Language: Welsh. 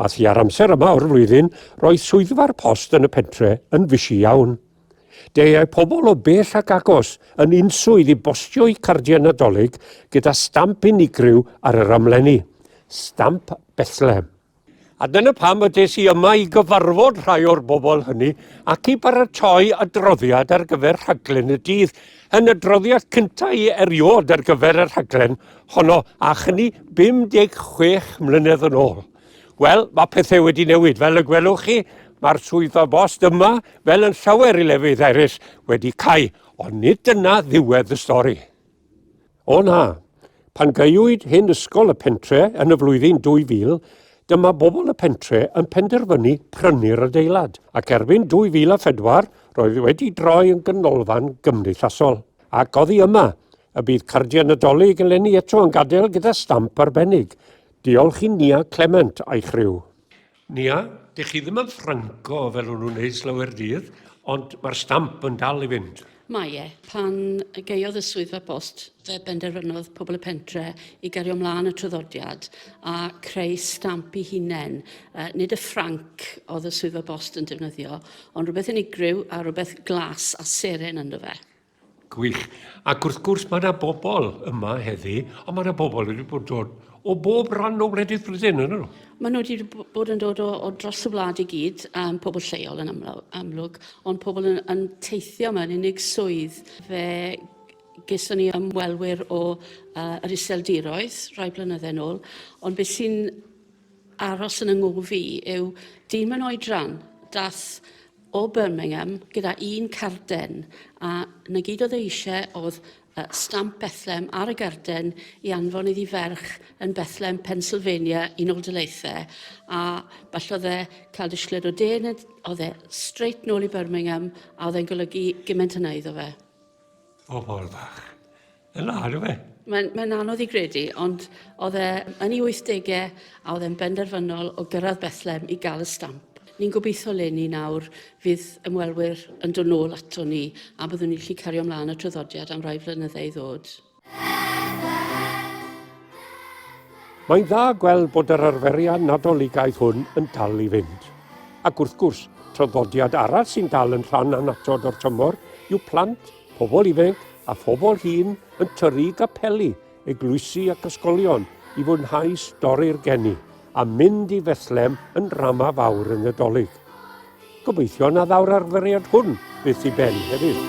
A thua'r amser yma o'r flwyddyn, roedd swyddfa'r post yn y pentre yn fysi iawn. Deiai pobl o bell ac agos yn unswydd i bostio'u cardiau Nadolig gyda stamp unigryw ar yr amlenni, stamp Bethlehem. A dyna pam y des i yma i gyfarfod rhai o'r bobl hynny ac i baratoi adroddiad ar gyfer rhaglen y dydd. Yn y droddiad cyntaf i eriod ar gyfer y rhaglen honno, a chyni 56 mlynedd yn ôl. Wel, mae pethau wedi newid. Fel y gwelwch chi, mae'r swyddfa bost yma, fel yn llawer i lefydd eraill, wedi cau, ond nid dyna ddiwedd y stori. O na! Pan gaewyd hen ysgol y pentre yn y flwyddyn 2000, dyma bobl y pentre yn penderfynu prynu'r adeilad, ac erbyn 2004 roedd wedi droi yn ganolfan gymdeithasol. Ac oddi yma, y bydd cardiau Nadolig eleni eto'n gadael gyda stamp arbennig. Diolch i Nia Clement a'i chriw. Nia, dych chi ddim yn ffranco fel o'n nhw'n neud slawer dydd, ond mae'r stamp yn dal i fynd. Mae e. Pan gaeodd y Swyddfa Bost fe benderfynodd pobl y pentre i gario mlaen y traddodiad a creu stamp i hunain. Uh, nid y ffranc oedd y Swyddfa Bost yn defnyddio, ond rhywbeth unigryw a rhywbeth glas a seren ynddo fe. Gwych. Ac wrth gwrs, mae yna bobl yma heddi, ond mae yna bobl wedi bod dod o bob rhan o wledydd Brydain, yn nhw? Maen nhw wedi bod yn dod o, o dros y wlad i gyd, um, pobl lleol yn amlwg, amlwg ond pobl yn, yn teithio mewn unig swydd. Fe geson ni ymwelwyr o uh, yr iseldiroedd rhai blynydde nôl, ond beth sy'n aros yn ynghof i yw dyn mewn oedran dath o Birmingham gyda un carden a 'na gyd oedd e eisiau oedd uh, stamp Bethlem ar y garden i anfon iddi ferch yn Bethlem, Pennsylvania, Unol Daleithiau a falle oedd e cael disgled o de neu oedd e straight nôl i Birmingham a oedd e'n golygu gymaint yna iddo fe. O bobl fach. Yn ar yw e? Mae'n mae anodd i gredu, ond oedd e yn ei 80au a oedd e'n benderfynol o gyrraedd Bethlem i gael y stamp. Ni'n gobeithio leni nawr fydd ymwelwyr yn dod nôl ato ni a byddwn ni'n gallu cario ymlaen y traddodiad am rai flynyddau i ddod. Mae'n dda gweld bod yr arferiad Nadoligaidd hwn yn dal i fynd. Ac wrth gwrs, traddodiad arall sy'n dal yn rhan annatod o'r tymor yw plant Pobl ifanc a phobl hŷn yn tyru capeli, eglwysi ac ysgolion i fwynhau stori'r geni a mynd i Fethlem yn ndrama fawr y Nadolig. Gobeithio na ddaw'r arferiad hwn byth i ben hefyd.